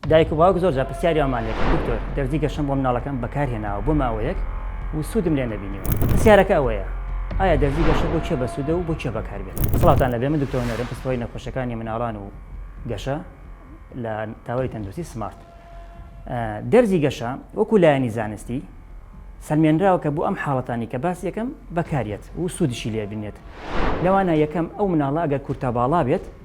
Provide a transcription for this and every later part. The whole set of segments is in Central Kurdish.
دایک و باوک زۆرجار پرسیاری ئەوەمان لێکرد، دکتۆر، دەرزی گەشەم بۆ منداڵەکەم بەکارهێناوە بۆ ماوەیەک و سوودم لێ نەبینیوە. پرسیارەکە ئەوەیە، ئایا دەرزی گەشە بۆ کێ بەسوودە و بۆ کێ بەکاردێت؟ سڵاوتان لەبێ، من دکتۆر هونەرم، پسپۆڕی نەخۆشیەکانی مناڵان و گەشە لە تاوەری تەندروستی سمارت. دەرزی گەشە وەکو لایەنی زانستی سەلمێنراوە کە بۆ ئەم حاڵەتانەی کە باسی یەکەم بەکاریەت و سوودشی لێبینرێت لەوانە یەکەم ئەو مناڵە ئەگەر کورتاباڵا بێت،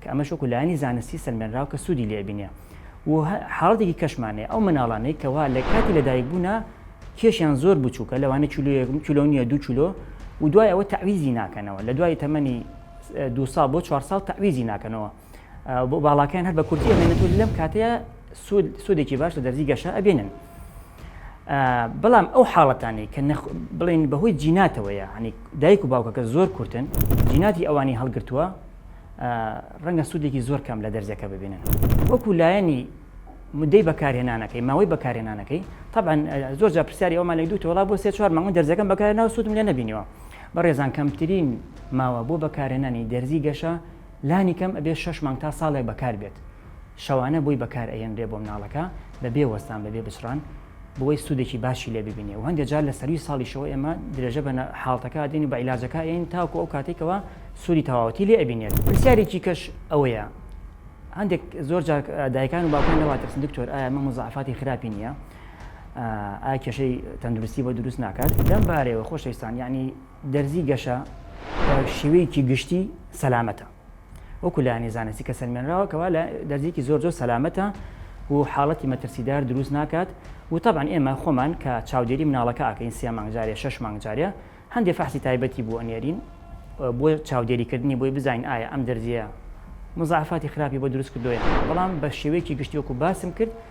کە ئەمەش وەکو لایەنی زانستی سەلمێنراو کە سوودی لێ ئەبینێ و حاڵەتێکی کەشمان هەیە ئەو مناڵانەی کەوا لە کاتی لەدایک بوونا کێشیان زۆر بچووکە لەوانە کیلۆ یەک کیلۆ نیە دوو کیلۆ و دوای ئەوە تەعویزی ناکەنەوە لە دوای تەمەنی دو ساڵ بۆ چوار ساڵ تەعویزی ناکەنەوە بۆ باڵاکەیان هەر بە کورتی ئەمێنێت و لەم کاتەیە سوود سوودێکی باش لە دەرزی گەشە ئەبێنن بەڵام ئەو حاڵەتانی کە بڵێن بەهۆی جیناتەوەیە هەنی دایک و باوکەکە زۆر کورتن جیناتی ئەوانی هەڵگرتووە ڕەنگە سوودێکی زۆر کەم لە دەرزەکە ببینن وەکو لایەنی مدەی بەکارهێنانەکەی ماوەی بەکارهێنانەکەی طبعا زۆر جا پرسیاری ئەومان لە دوو تۆڵا بۆ سێ چوار مانگە دەرزەکەم بەکار ناو سوودم لێ نبینیەوە بەڕێزان کەمترین ماوە بۆ بەکارهێنانی دەرزی گەشە لانی کەم ئەبێ شش مانگ تا ساڵێک بەکار بێت شەوانە بۆی بەکار ئەهێنرێ بۆ مناڵەکە بەبێ وەستان بەبێ بچڕان بۆوەی سوودێکی باشی لێ ببینێ و هەندێ جار لە سەرووی ساڵیشەوە ئێمە درێژە بە حاڵتەکە ئەدەین و بە عیلاجەکە ئەین تاوکو ئەو کاتێک کەوا سوودی تەواوەتی لێ ئەبینێت پرسیارێکی کەش ئەوەیە هەندێک زۆر جار دایکان و باوکان لەوە ترسن دکتۆر ئایا مەم و زەعفاتی خراپی نییە ئایا کێشەی تەندروستی بۆ دروست ناکات لەم بارەیەوە خۆشەویستان یعنی دەرزی گەشە بە شێوەیەکی گشتی سەلامەتە وەکو لایەنی زانستی کە سەلمێنراوە کەوا لە دەرزیکی زۆر زۆر سەلامەتە و حاڵەتی مەترسیدار دروست ناکات و تەبان ئێمە خۆمان کە چاودێری مناڵەکە ئاکەین سێ مانگ جارێ شش مانگ جارێ هەندێ فەحسی تایبەتی بۆ ئەنێرین بۆ چاودێریکردنی بۆی بزانین ئایا ئەم دەرزیە مزعفاتی خراپی بۆ دروست کردۆیان بەڵام بە شێوەیەکی گشتی وەکو باسم کرد